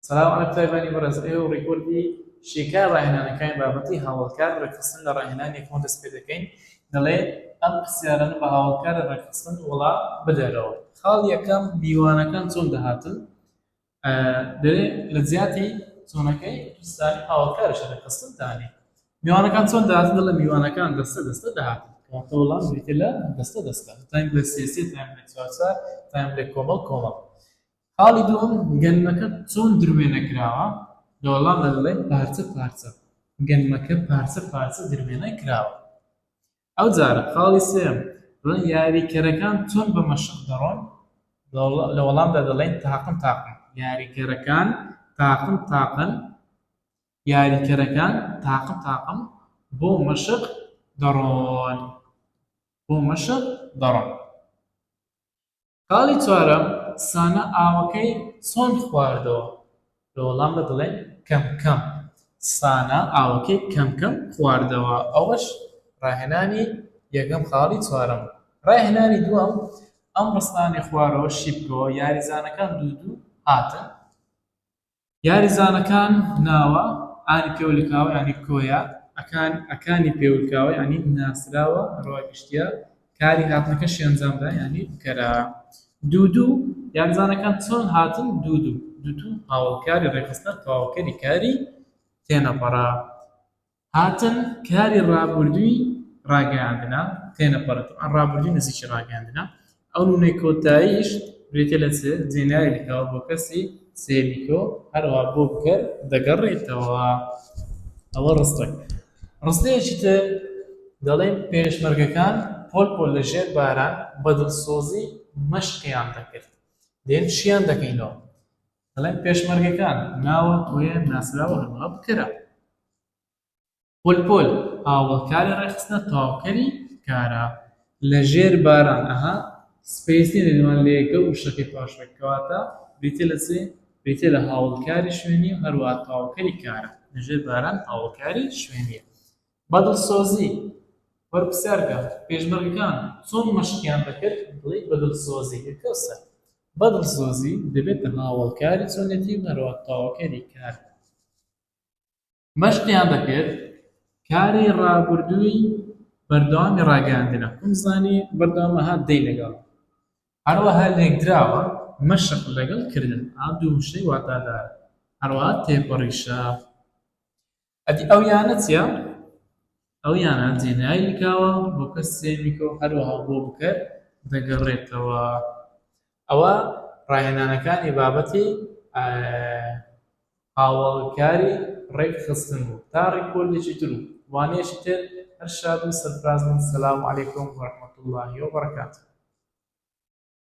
سەلاو عەرەب تایبانی بەڕێز ئێوە ڕیکۆردی شیکار ڕاهێنانەکانی بابەتی هاوەڵکار ڕێکخستن لە ڕاهێنانی یەکەمەوە دەست پێ دەکەین دەڵێ ئەم پرسیارانە بە هاوەڵکارە ڕێکخستن وەڵام بدەرەوە خاڵ یەکەم میوانەکان چۆن دەهاتن دەێ لە زیاتی چۆنەکەی دوستانی هاوەڵکارش ڕێکخستنتانی میوانەکان چۆن دەهاتن دەڵێ میوانەکان دەستە دەستە دەهاتن وڵام لە دەستە دەستە تایم لە سێسێ تایم لە چوارچار تایم لە کۆمەڵ کۆمەڵ خاڵی دووەم، گەنمەکە چۆن دروێنە کراوە؟ لە وەڵامدا دەڵێت، پارچە پارچە، گەنمەکە پارچە پارچە دروێنە کراوە. ئەوجارە خاڵی سێیەم، دەڵێن، یاریکەرەکان چۆن بە مەشق دەڕۆن؟ لە وەڵامدا دەڵێن، تاقم تاقم، یاریکەرەکان تاقم تاقم، یاریکەرەکان تاقم تاقم بۆ مەشق دەڕۆن، بۆ مەشق دەڕۆن. خاڵی چوارەم، سانا ئاوەکەی چۆن خواردەوە؟ لە وەڵام دا دەڵێین، کەم کەم. سانا ئاوەکەی کەم کەم خواردەوە. ئەوەش ڕاهێنانی یەکەم خاڵی چوارەم بوو. ڕاهێنانی دووەم، ئەم ڕستانەی خوارەوە شی بکەوە، یاریزانەکان دوو دوو هاتن. یاریزانەکان ناوە انی پێولکاوە یانی کۆیە. ئەکان ئەکانی پێولکاوە یانی ناسراوە ڕەوای گشتییە کاری هاتنەکەشی ئەنجامدا یانی بکەرە. دوودو، یاریزانەکان چۆن هاتن دوودو. دوودو، هاوەڵکاری ڕێکخستنە تەواوکەری کاری تێنەپەڕە. هاتن، کاری ڕابوردوی ڕاگەیاندنە، تێنە پەڕن، ئەم ڕابوردوی نزیکی ڕاگەیاندنە، ئەو نونەی کۆتاییش بریتیە لە سێ جێناوێکی کاو بۆ کەسی سێمی کۆ، هەروەها بۆ کەر دەگەڕێتەوە. ئەوە ڕستەک. ڕستەیەکی تر دەڵێن، پێشمەرگەکان پۆل پۆل لە ژێر باران بە دڵسۆزی مەشقیان دەکرد. دێن شیان دەکەینەوە. دەڵێن پێشمەرگەکان، ناوە، کۆیە، ناسراوە، هەروەها بکەرە. پۆلپۆل، هاوەڵکاری ڕێکخستنە تەواوکەری کارە. لە ژێر باران، ئەها، سپەیس نییە دەگمەن لە یەکە و شەکەی پاشوێک، کەواتە بریتییە لە چی؟ بریتییە لە هاوەڵکاری شوێنی و هەروەها تەواوکەری کارە. لە ژێر باران هاوەڵکاری شوێنییە. بە دڵسۆزی، وەرپرسیار کە، پێشمەرگەکان چۆن مەشقیان دەکرد؟ دەڵێی بە دڵسۆزی، یەکە و سەر. بە دڵسۆزی دەبێتە هاوەڵکاری چۆنێتی و هەروەک تەواوکەری کار بن مەشقیان دەکرد کاری ڕابردووی بەردەوامی ڕاگەیاندنە قومزانی بەردەوامەها دەی لەگەڵ هەروەها لێکدراوە مەشق لەگەڵ کردن ئا دوو وشەی واتادار هەروەها تێپەڕی شاخ ئەدی ئەو یانە چیە؟ ئەو یانە جێنای لکاوە بۆ کەس سێمیکۆ هەروەها بۆ بکەر دەگەڕێتەوە ئەوە ڕاهێنانەکانی بابەتی هاوڵکاری ڕێک خستن بوو تا ڕیکۆردێکی تر و وانەیەکی تر هەر شاد و سەرفراز بن سەلام علیکم و ڕەحمەتوڵڵاهی و بەڕەکاتوو.